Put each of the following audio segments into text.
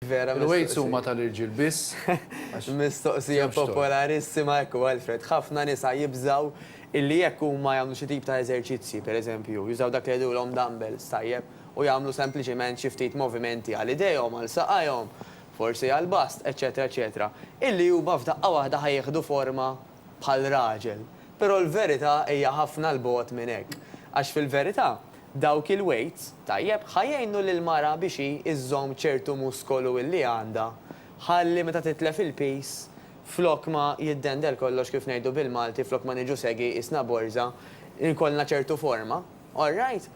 Vera mistoqsija. Il-weights huma tal-irġiel biss. Mistoqsija popolarissima, ekku Alfred. Ħafna nisa jibżgħu illi jekk huma jagħmlu xi tip ta' eżerċizzji, per eżempju, jużaw dak li jgħidulhom dumbbells, tajjeb, u jagħmlu sempliċement xi ftit movimenti għal idejhom, għal saqajhom, forsi għall-bust, eċċetera, eċċetera, illi huma f'daqqa waħda ħa jieħdu forma bħal raġel. Però l-verità hija ħafna 'l bogħod minn hekk. Għax fil-verità, dawk il-weights, tajjeb, ħa jgħinu lill-mara biex hi iżżomm ċertu muskolu illi għandha, ħalli meta titlef il-piż, flok ma jiddendel kollox kif ngħidu bil-Malti, flok ma niġu segi qisna borża, ikollna ċertu forma. All right?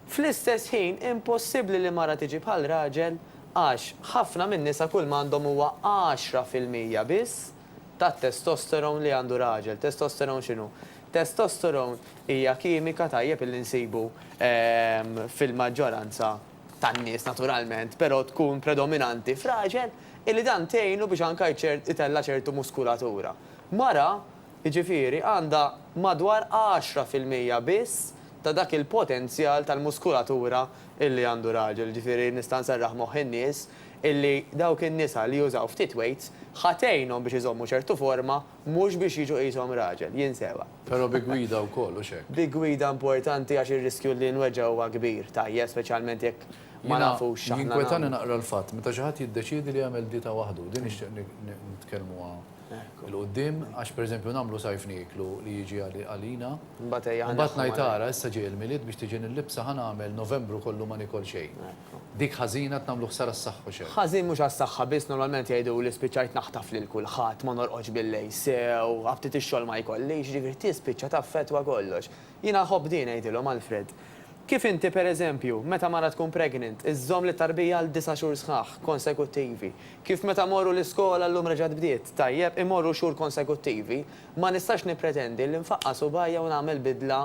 Fl-istess ħin, impossibbli li mara tiġi bħal raġel għax ħafna min-nisa kull m'għandhom huwa għaxra fil-mija biss tat-testosterone li għandu raġel. Testosterone x'inhu? Testosterone hija kimika tajjeb illi nsibu fil-maġġoranza tan-nies naturalment, però tkun predominanti f'raġel illi dan tgħinu biex anke itella' ċertu muskulatura. Mara, jiġifieri, għandha madwar għaxra fil-mija biss ta' dak il-potenzjal tal-muskulatura illi għandu raġel. Jiġifieri nista' nserraħ moħħ in-nies illi dawk in-nisa li jużaw ftit weights ħa tgħinhom biex iżommu ċertu forma mhux biex jiġu qishom raġel, jien sewwa. Però bi gwida wkoll, hux hekk? Bi gwida importanti għax ir-riskju li nweġġa' huwa kbir, tajjeb, speċjalment jekk ma nafux x'aħna nagħmlu. Jiena jinkwetani naqra l-fatt meta xi ħadd jiddeċiedi li jagħmel dieta waħdu, din nixtieq nitkellmuha 'l quddiem għax pereżempju nagħmlu sajf nieklu li jiġi għalina, u mbagħad ngħid ara issa ġej il-Milied biex tiġi nil-libsa ħa nagħmel Novembru kollu ma nikol xejn. Dik ħażina qed nagħmlu ħsara s-saħħa u xejn. Ħażin mhux għas-saħħa biss normalment jgħiduli spiċċajt naħtaf lil kulħadd, ma norqodx bil-lejl sew, ħabtiet ix-xogħol ma jkollix, jiġifieri tispiċċa taffettwa kollox. Jiena nħobb din ngħidilhom Alfred. Kif inti pereżempju, meta mara tkun pregnant, iżżomm lit-tarbija għal disa' xhur sħaħ, konsekuttivi. Kif meta mmorru l-iskola llum reġgħet bdiet, tajjeb, imorru xhur konsekuttivi, ma nistax nippretendi li nfaqqa' subgħajja u nagħmel bidla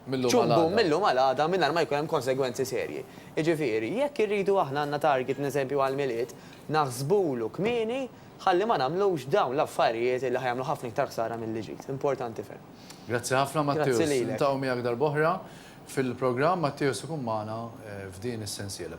ċumbum mil-lum għal għada mingħajr ma jkun hemm konsegwenzi serji. Jiġifieri, jekk irridu aħna għandna target n'eżempju għall-Milied, naħsbulu kmieni ħalli ma nagħmlux dawn l-affarijiet li ħa jagħmlu ħafna iktar ħsara milli ġid. Importanti ferm. Grazzi ħafna Matteus. Niltaqgħu miegħek darb'oħra fil-programm. Matteus ikun magħna f'din is-sensiela.